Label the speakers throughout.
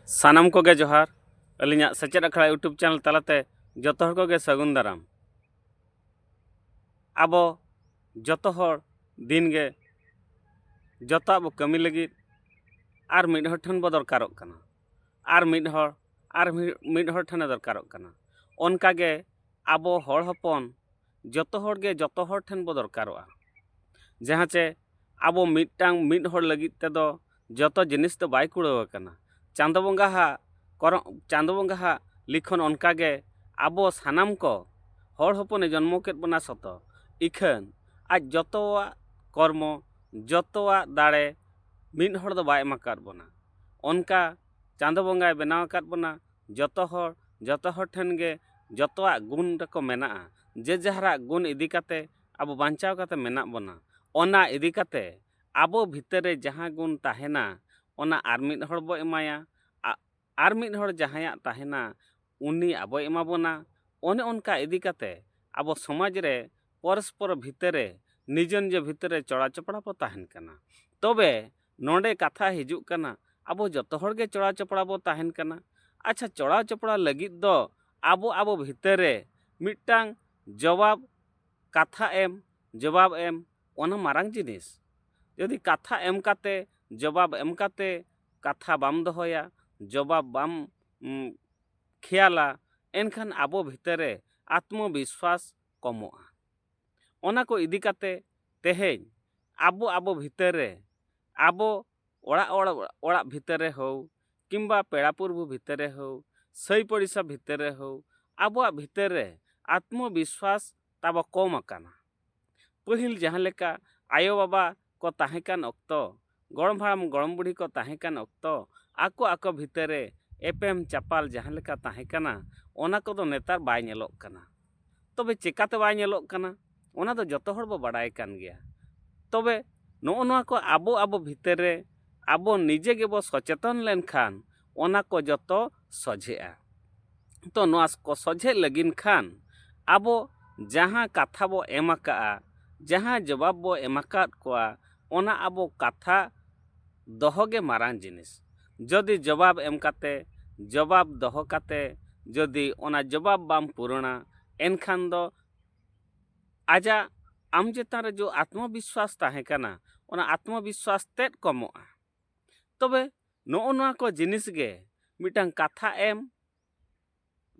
Speaker 1: ᱥᱟᱱᱟᱢ ᱠᱚᱜᱮ ᱡᱚᱦᱟᱨ ᱟᱹᱞᱤᱧᱟᱜ ᱥᱮᱪᱮᱫ ᱟᱠᱷᱲᱟ ᱤᱭᱩᱴᱩᱵᱽ ᱪᱮᱱᱮᱞ ᱛᱟᱞᱟᱛᱮ ᱡᱚᱛᱚ ᱦᱚᱲ ᱠᱚᱜᱮ ᱥᱟᱹᱜᱩᱱ ᱫᱟᱨᱟᱢ ᱟᱵᱚ ᱡᱚᱛᱚ ᱦᱚᱲ ᱫᱤᱱᱜᱮ ᱡᱚᱛᱚᱣᱟᱜ ᱵᱚ ᱠᱟᱹᱢᱤ ᱞᱟᱹᱜᱤᱫ ᱟᱨ ᱢᱤᱫ ᱦᱚᱲ ᱴᱷᱮᱱ ᱵᱚ ᱫᱚᱨᱠᱟᱨᱚᱜ ᱠᱟᱱᱟ ᱟᱨ ᱢᱤᱫ ᱦᱚᱲ ᱟᱨ ᱢᱤᱫ ᱦᱚᱲ ᱴᱷᱮᱱᱮ ᱫᱚᱨᱠᱟᱨᱚᱜ ᱠᱟᱱᱟ ᱚᱱᱠᱟᱜᱮ ᱟᱵᱚ ᱦᱚᱲ ᱦᱚᱯᱚᱱ ᱡᱚᱛᱚ ᱦᱚᱲ ᱜᱮ ᱡᱚᱛᱚ ᱦᱚᱲ ᱴᱷᱮᱱ ᱵᱚ ᱫᱚᱨᱠᱟᱨᱚᱜᱼᱟ ᱡᱟᱦᱟᱸ ᱪᱮ ᱟᱵᱚ ᱢᱤᱫᱴᱟᱝ ᱢᱤᱫ ᱦᱚᱲ ᱞᱟᱹᱜᱤᱫ ᱛᱮᱫᱚ ᱡᱚᱛᱚ ᱡᱤᱱᱤᱥ ᱫᱚ ᱵᱟᱭ ᱠᱩᱲᱟᱹᱣ ᱟᱠᱟᱱᱟ ᱪᱟᱸᱫᱚ ᱵᱚᱸᱜᱟ ᱦᱟᱜ ᱠᱚᱨᱚᱢ ᱪᱟᱸᱫᱚ ᱵᱚᱸᱜᱟ ᱦᱟᱜ ᱞᱤᱠᱷᱚᱱ ᱚᱱᱠᱟ ᱜᱮ ᱟᱵᱚ ᱥᱟᱱᱟᱢ ᱠᱚ ᱦᱚᱲ ᱦᱚᱯᱚᱱᱮ ᱡᱚᱱᱢᱚ ᱠᱮᱫ ᱵᱚᱱᱟ ᱥᱚᱛᱚ ᱤᱠᱷᱟᱹᱱ ᱟᱡ ᱡᱚᱛᱚᱣᱟᱜ ᱠᱚᱨᱢᱚ ᱡᱚᱛᱚᱣᱟᱜ ᱫᱟᱲᱮ ᱢᱤᱫ ᱦᱚᱲ ᱫᱚ ᱵᱟᱭ ᱮᱢ ᱟᱠᱟᱫ ᱵᱚᱱᱟ ᱚᱱᱠᱟ ᱪᱟᱸᱫᱚ ᱵᱚᱸᱜᱟᱭ ᱵᱮᱱᱟᱣ ᱟᱠᱟᱫ ᱵᱚᱱᱟ ᱡᱚᱛᱚ ᱦᱚᱲ ᱡᱚᱛᱚ ᱦᱚᱲ ᱴᱷᱮᱱ ᱜᱮ ᱡᱚᱛᱚᱣᱟᱜ ᱜᱩᱱ ᱛᱟᱠᱚ ᱢᱮᱱᱟᱜᱼᱟ ᱡᱮ ᱡᱟᱦᱟᱨᱟᱜ ᱜᱩᱱ ᱤᱫᱤ ᱠᱟᱛᱮᱫ ᱟᱵᱚ ᱵᱟᱧᱪᱟᱣ ᱠᱟᱛᱮᱫ ᱢᱮᱱᱟᱜ ᱵᱚᱱᱟ ᱚᱱᱟ ᱤᱫᱤ ᱠᱟᱛᱮᱫ ᱟᱵᱚ ᱵᱷᱤᱛᱟᱹᱨ ᱨᱮ ᱡᱟᱦᱟᱸ ᱜᱩᱱ ᱛᱟᱦᱮᱱᱟ ᱚᱱᱟ ᱟᱨ ᱢᱤᱫ ᱦᱚᱲ ᱵᱚᱱ ᱮᱢᱟᱭᱟ ᱟᱨ ᱢᱤᱫ ᱦᱚᱲ ᱡᱟᱦᱟᱸᱭᱟᱜ ᱛᱟᱦᱮᱱᱟ ᱩᱱᱤ ᱟᱵᱚᱭ ᱮᱢᱟ ᱵᱚᱱᱟ ᱚᱱᱮ ᱚᱱᱠᱟ ᱤᱫᱤ ᱠᱟᱛᱮᱫ ᱟᱵᱚ ᱥᱚᱢᱟᱡᱽ ᱨᱮ ᱯᱚᱨᱚᱥᱯᱚᱨ ᱵᱷᱤᱛᱟᱹᱨ ᱨᱮ ᱱᱤᱡᱮ ᱱᱤᱡᱮ ᱵᱷᱤᱛᱟᱹᱨ ᱨᱮ ᱪᱚᱲᱟ ᱪᱚᱯᱲᱟ ᱵᱚᱱ ᱛᱟᱦᱮᱱ ᱠᱟᱱᱟ ᱛᱚᱵᱮ ᱱᱚᱰᱮ ᱠᱟᱛᱷᱟ ᱦᱤᱡᱩᱜ ᱠᱟᱱᱟ ᱟᱵᱚ ᱡᱚᱛᱚ ᱦᱚᱲ ᱜᱮ ᱪᱚᱲᱟ ᱪᱚᱯᱲᱟ ᱵᱚ ᱛᱟᱦᱮᱱ ᱠᱟᱱᱟ ᱟᱪᱪᱷᱟ ᱪᱚᱲᱟ ᱪᱚᱯᱲᱟ ᱞᱟᱹᱜᱤᱫ ᱫᱚ ᱟᱵᱚ ᱟᱵᱚ ᱵᱷᱤᱛᱟᱹᱨ ᱨᱮ ᱢᱤᱫᱴᱟᱝ ᱡᱚᱵᱟᱵᱽ ᱠᱟᱛᱷᱟ ᱮᱢ ᱡᱚᱵᱟᱵᱽ ᱮᱢ ᱚᱱᱟ ᱢᱟᱨᱟᱝ ᱡᱤᱱᱤᱥ ᱡᱩᱫᱤ ᱠᱟᱛᱷᱟ ᱮᱢ ᱠᱟᱛᱮ ᱡᱚᱵᱟᱵᱽ ᱮᱢ ᱠᱟᱛᱮ ᱠᱟᱛᱷᱟ ᱵᱟᱢ ᱫᱚᱦᱚᱭᱟ ᱡᱚᱵᱟᱵᱽ ᱵᱟᱢ ᱠᱷᱮᱭᱟᱞᱟ ᱮᱱᱠᱷᱟᱱ ᱟᱵᱚ ᱵᱷᱤᱛᱟᱹᱨ ᱨᱮ ᱟᱛᱢᱚ ᱵᱤᱥᱣᱟᱥ ᱠᱚᱢᱚᱜᱼᱟ ᱚᱱᱟ ᱠᱚ ᱤᱫᱤ ᱠᱟᱛᱮᱫ ᱛᱮᱦᱮᱧ ᱟᱵᱚ ᱟᱵᱚ ᱵᱷᱤᱛᱟᱹᱨ ᱨᱮ ᱟᱵᱚ ᱚᱲᱟᱜ ᱚᱲᱟᱜ ᱵᱷᱤᱛᱟᱹᱨ ᱨᱮ ᱦᱳᱠ ᱠᱤᱢᱵᱟ ᱯᱮᱲᱟ ᱯᱩᱨᱵᱷᱩ ᱵᱷᱤᱛᱟᱹᱨ ᱨᱮ ᱦᱳᱠ ᱥᱟᱹᱭ ᱯᱚᱲᱤᱥᱟ ᱵᱷᱤᱛᱟᱹᱨ ᱨᱮ ᱦᱳᱠ ᱟᱵᱚᱣᱟᱜ ᱵᱷᱤᱛᱟᱹᱨ ᱨᱮ ᱟᱛᱢᱚ ᱵᱤᱥᱣᱟᱥ ᱛᱟᱵᱚ ᱠᱚᱢ ᱟᱠᱟᱱᱟ ᱯᱟᱹᱦᱤᱞ ᱡᱟᱦᱟᱸ ᱞᱮᱠᱟ ᱟᱭᱳ ᱵᱟᱵᱟ ᱠᱚ ᱛᱟᱦᱮᱸ ᱠᱟᱱ ᱚᱠᱛᱚ ᱜᱚᱲᱚᱢ ᱦᱟᱲᱟᱢ ᱜᱚᱲᱚᱢ ᱵᱩᱰᱷᱤ ᱠᱚ ᱛᱟᱦᱮᱸ ᱠᱟᱱ ᱚᱠᱛᱚ ᱟᱠᱚ ᱟᱠᱚ ᱵᱷᱤᱛᱟᱹᱨ ᱨᱮ ᱮᱯᱮᱢ ᱪᱟᱯᱟᱞ ᱡᱟᱦᱟᱸ ᱞᱮᱠᱟ ᱛᱟᱦᱮᱸ ᱠᱟᱱᱟ ᱚᱱᱟ ᱠᱚᱫᱚ ᱱᱮᱛᱟᱨ ᱵᱟᱭ ᱧᱮᱞᱚᱜ ᱠᱟᱱᱟ ᱛᱚᱵᱮ ᱪᱤᱠᱟᱹᱛᱮ ᱵᱟᱭ ᱧᱮᱞᱚᱜ ᱠᱟᱱᱟ ᱚᱱᱟ ᱫᱚ ᱡᱚᱛᱚ ᱦᱚᱲ ᱵᱚᱱ ᱵᱟᱰᱟᱭ ᱠᱟᱱ ᱜᱮᱭᱟ ᱛᱚᱵᱮ ᱱᱚᱜᱼᱚ ᱱᱚᱣᱟ ᱠᱚ ᱟᱵᱚ ᱟᱵᱚ ᱵᱷᱤᱛᱟᱹᱨ ᱨᱮ ᱟᱵᱚ ᱱᱤᱡᱮ ᱜᱮᱵᱚᱱ ᱥᱚᱪᱮᱛᱚᱱ ᱞᱮᱱᱠᱷᱟᱱ ᱚᱱᱟ ᱠᱚ ᱡᱚᱛᱚ ᱥᱚᱡᱷᱮᱜᱼᱟ ᱛᱚ ᱱᱚᱣᱟ ᱠᱚ ᱥᱚᱡᱷᱮᱜ ᱞᱟᱹᱜᱤᱫ ᱠᱷᱟᱱ ᱟᱵᱚ ᱡᱟᱦᱟᱸ ᱠᱟᱛᱷᱟ ᱵᱚ ᱮᱢ ᱟᱠᱟᱫᱼᱟ ᱡᱟᱦᱟᱸ ᱡᱚᱵᱟᱵᱽ ᱵᱚ ᱮᱢ ᱟᱠᱟᱫ ᱠᱚᱣᱟ ᱚᱱᱟ ᱟᱵᱚ ᱠᱟᱛᱷᱟ ᱫᱚᱦᱚ ᱜᱮ ᱢᱟᱨᱟᱝ ᱡᱤᱱᱤᱥ ᱡᱩᱫᱤ ᱡᱚᱵᱟᱵᱽ ᱮᱢ ᱠᱟᱛᱮᱫ ᱡᱚᱵᱟᱵᱽ ᱫᱚᱦᱚ ᱠᱟᱛᱮᱫ ᱡᱩᱫᱤ ᱚᱱᱟ ᱡᱚᱵᱟᱵᱽ ᱵᱟᱢ ᱯᱩᱨᱩᱱᱟ ᱮᱱᱠᱷᱟᱱ ᱫᱚ ᱟᱡᱟᱜ ᱟᱢ ᱪᱮᱛᱟᱱ ᱨᱮ ᱡᱮ ᱟᱛᱢᱚ ᱵᱤᱥᱥᱟᱥ ᱛᱟᱦᱮᱸ ᱠᱟᱱᱟ ᱚᱱᱟ ᱟᱛᱢᱚ ᱵᱤᱥᱥᱟᱥ ᱛᱮᱫ ᱠᱚᱢᱚᱜᱼᱟ ᱛᱚᱵᱮ ᱱᱚᱜᱼᱚ ᱱᱚᱣᱟ ᱠᱚ ᱡᱤᱱᱤᱥ ᱜᱮ ᱢᱤᱫᱴᱟᱝ ᱠᱟᱛᱷᱟ ᱮᱢ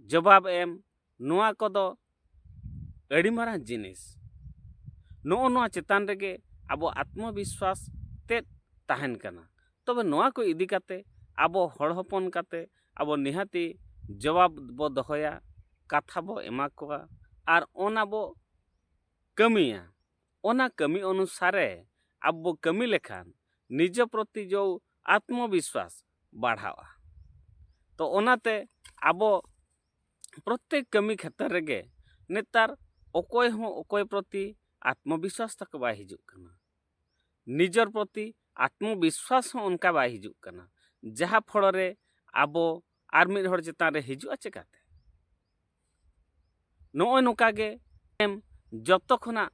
Speaker 1: ᱡᱚᱵᱟᱵ ᱮᱢ ᱱᱚᱣᱟ ᱠᱚᱫᱚ ᱟᱹᱰᱤ ᱢᱟᱨᱟᱝ ᱡᱤᱱᱤᱥ ᱱᱚᱜᱼᱚ ᱱᱚᱣᱟ ᱪᱮᱛᱟᱱ ᱨᱮᱜᱮ ᱟᱵᱚ ᱟᱛᱢᱚ ᱵᱤᱥᱣᱟᱥ ᱛᱮᱫ ᱛᱟᱦᱮᱱ ᱠᱟᱱᱟ ᱛᱚᱵᱮ ᱱᱚᱣᱟ ᱠᱚ ᱤᱫᱤ ᱠᱟᱛᱮ ᱟᱵᱚ ᱦᱚᱲ ᱦᱚᱯᱚᱱ ᱠᱟᱛᱮ ᱟᱵᱚ ᱱᱤᱦᱟᱹᱛᱤ ᱡᱚᱵᱟᱵ ᱵᱚ ᱫᱚᱦᱚᱭᱟ ᱠᱟᱛᱷᱟ ᱵᱚ ᱮᱢᱟ ᱠᱚᱣᱟ ᱟᱨ ᱚᱱᱟ ᱵᱚ ᱠᱟᱹᱢᱤᱭᱟ ᱚᱱᱟ ᱠᱟᱹᱢᱤ ᱚᱱᱩᱥᱟᱨᱮ ᱟᱵᱚ ᱵᱚ ᱠᱟᱹᱢᱤ ᱞᱮᱠᱷᱟᱱ ᱱᱤᱡᱚ ᱯᱨᱚᱛᱤ ᱡᱚ ᱟᱛᱢᱚ ᱵᱤᱥᱣᱟᱥ ᱵᱟᱲᱦᱟᱣᱜᱼᱟ ᱛᱚ ᱚᱱᱟᱛᱮ ᱟᱵᱚ ᱯᱨᱚᱛᱮᱠ ᱠᱟᱹᱢᱤ ᱠᱷᱮᱛᱨᱮ ᱨᱮᱜᱮ ᱱᱮᱛᱟᱨ ᱚᱠᱚᱭ ᱦᱚᱸ ᱚᱠᱚᱭ ᱯᱨᱚᱛᱤ ᱟᱛᱢᱚ ᱵᱤᱥᱣᱟᱥ ᱛᱟᱠᱚ ᱵᱟᱭ ᱦᱤᱡᱩᱜ ᱠᱟᱱᱟ ᱱᱤᱡᱚᱨ ᱯᱨᱚᱛᱤ ᱟᱛᱢᱚ ᱵᱤᱥᱣᱟᱥ ᱦᱚᱸ ᱚᱱᱠᱟ ᱵᱟᱭ ᱦᱤᱡᱩᱜ ᱠᱟᱱᱟ ᱡᱟᱦᱟᱸ ᱯᱷᱚᱲᱚᱨᱮ ᱟᱵᱚ ᱟᱨ ᱢᱤᱫ ᱦᱚᱲ ᱪᱮᱛᱟᱱ ᱨᱮ ᱦᱤᱡᱩᱜᱼᱟ ᱪᱮᱠᱟᱛᱮ ᱱᱚᱜᱼᱚᱭ ᱱᱚᱝᱠᱟ ᱜᱮ ᱮᱢ ᱡᱚᱛᱚ ᱠᱷᱚᱱᱟᱜ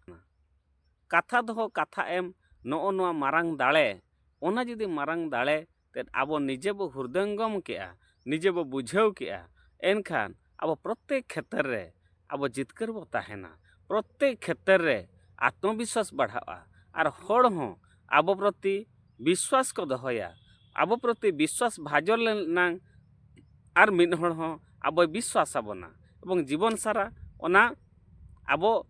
Speaker 1: ᱠᱟᱛᱷᱟ ᱫᱚᱦᱚ ᱠᱟᱛᱷᱟ ᱮᱢ ᱱᱚᱜᱼᱚ ᱱᱚᱣᱟ ᱢᱟᱨᱟᱝ ᱫᱟᱲᱮ ᱚᱱᱟ ᱡᱩᱫᱤ ᱢᱟᱨᱟᱝ ᱫᱟᱲᱮ ᱛᱮᱫ ᱟᱵᱚ ᱱᱤᱡᱮ ᱵᱚ ᱦᱩᱨᱫᱟᱹᱝᱜᱚᱢ ᱠᱮᱜᱼᱟ ᱱᱤᱡᱮ ᱵᱚ ᱵᱩᱡᱷᱟᱹᱣ ᱠᱮᱜᱼᱟ ᱮᱱᱠᱷᱟᱱ ᱟᱵᱚ ᱯᱨᱚᱛᱮᱠ ᱠᱷᱮᱛᱨᱮ ᱨᱮ ᱟᱵᱚ ᱡᱤᱛᱠᱟᱹᱨ ᱵᱚ ᱛᱟᱦᱮᱱᱟ ᱯᱨᱚᱛᱮᱠ ᱠᱷᱮᱛᱨᱮ ᱨᱮ ᱟᱛᱢᱚ ᱵᱤᱥᱥᱟᱥ ᱵᱟᱲᱦᱟᱜᱼᱟ ᱟᱨ ᱦᱚᱲ ᱦᱚᱸ ᱟᱵᱚ ᱯᱨᱚᱛᱤ ᱵᱤᱥᱥᱟᱥ ᱠᱚ ᱫᱚᱦᱚᱭᱟ ᱟᱵᱚ ᱯᱨᱚᱛᱤ ᱵᱤᱥᱥᱟᱥ ᱵᱷᱟᱡᱚᱱ ᱞᱮᱱᱟᱝ ᱟᱨ ᱢᱤᱫ ᱦᱚᱲ ᱦᱚᱸ ᱟᱵᱚᱭ ᱵᱤᱥᱥᱟᱥ ᱟᱵᱚᱱᱟ ᱮᱵᱚᱝ ᱡᱤᱵᱚᱱ ᱥᱟᱨᱟ ᱚᱱᱟ ᱟᱵᱚ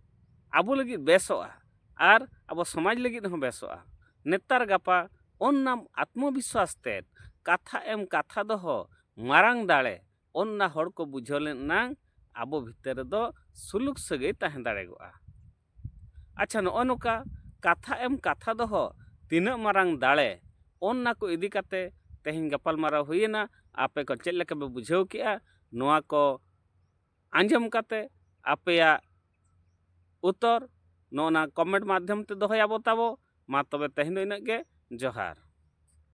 Speaker 1: ᱟᱵᱚ ᱞᱟᱹᱜᱤᱫ ᱵᱮᱥᱚᱜᱼᱟ ᱟᱨ ᱟᱵᱚ ᱥᱚᱢᱟᱡᱽ ᱞᱟᱹᱜᱤᱫ ᱦᱚᱸ ᱵᱮᱥᱚᱜᱼᱟ ᱱᱮᱛᱟᱨ ᱜᱟᱯᱟ ᱚᱱᱱᱟᱢ ᱟᱛᱢᱚ ᱵᱤᱥᱥᱟᱥ ᱛᱮ ᱠᱟᱛᱷᱟ ᱮᱢ ᱠᱟᱛᱷᱟ ᱫᱚᱦᱚ ᱢᱟᱨᱟᱝ ᱫᱟᱲᱮ ᱚᱱᱱᱟ ᱦᱚᱲ ᱠᱚ ᱵᱩᱡᱷᱟᱹᱣ ᱞᱮᱱ ᱮᱱᱟᱝ ᱟᱵᱚ ᱵᱷᱤᱛᱟᱹᱨ ᱨᱮᱫᱚ ᱥᱩᱞᱩᱠ ᱥᱟᱹᱜᱟᱹᱭ ᱛᱟᱦᱮᱸ ᱫᱟᱲᱮᱭᱟᱜᱼᱟ ᱟᱪᱪᱷᱟ ᱱᱚᱜᱼᱚ ᱱᱚᱝᱠᱟ ᱠᱟᱛᱷᱟ ᱮᱢ ᱠᱟᱛᱷᱟ ᱫᱚᱦᱚ ᱛᱤᱱᱟᱹᱜ ᱢᱟᱨᱟᱝ ᱫᱟᱲᱮ ᱚᱱᱱᱟ ᱠᱚ ᱤᱫᱤ ᱠᱟᱛᱮ ᱛᱮᱦᱮᱧ ᱜᱟᱯᱟᱞ ᱢᱟᱨᱟᱣ ᱦᱩᱭᱮᱱᱟ ᱟᱯᱮ ᱠᱚ ᱪᱮᱫ ᱞᱮᱠᱟ ᱯᱮ ᱵᱩᱡᱷᱟᱹᱣ ᱠᱮᱜᱼᱟ ᱱᱚᱣᱟ ᱠᱚ ᱟᱸᱡᱚᱢ ᱠᱟᱛᱮ ᱟᱯᱮᱭᱟᱜ ᱩᱛᱚᱨ ᱱᱚᱜᱼᱚ ᱱᱟ ᱠᱚᱢᱮᱱᱴ ᱢᱟᱫᱽᱫᱷᱚᱢ ᱛᱮ ᱫᱚᱦᱚᱭᱟᱵᱚ ᱛᱟᱵᱚ ᱢᱟ ᱛᱚᱵᱮ ᱛᱮᱦᱮᱧ ᱫᱚ ᱤᱱᱟᱹᱜ ᱜᱮ ᱡᱚᱦᱟᱨ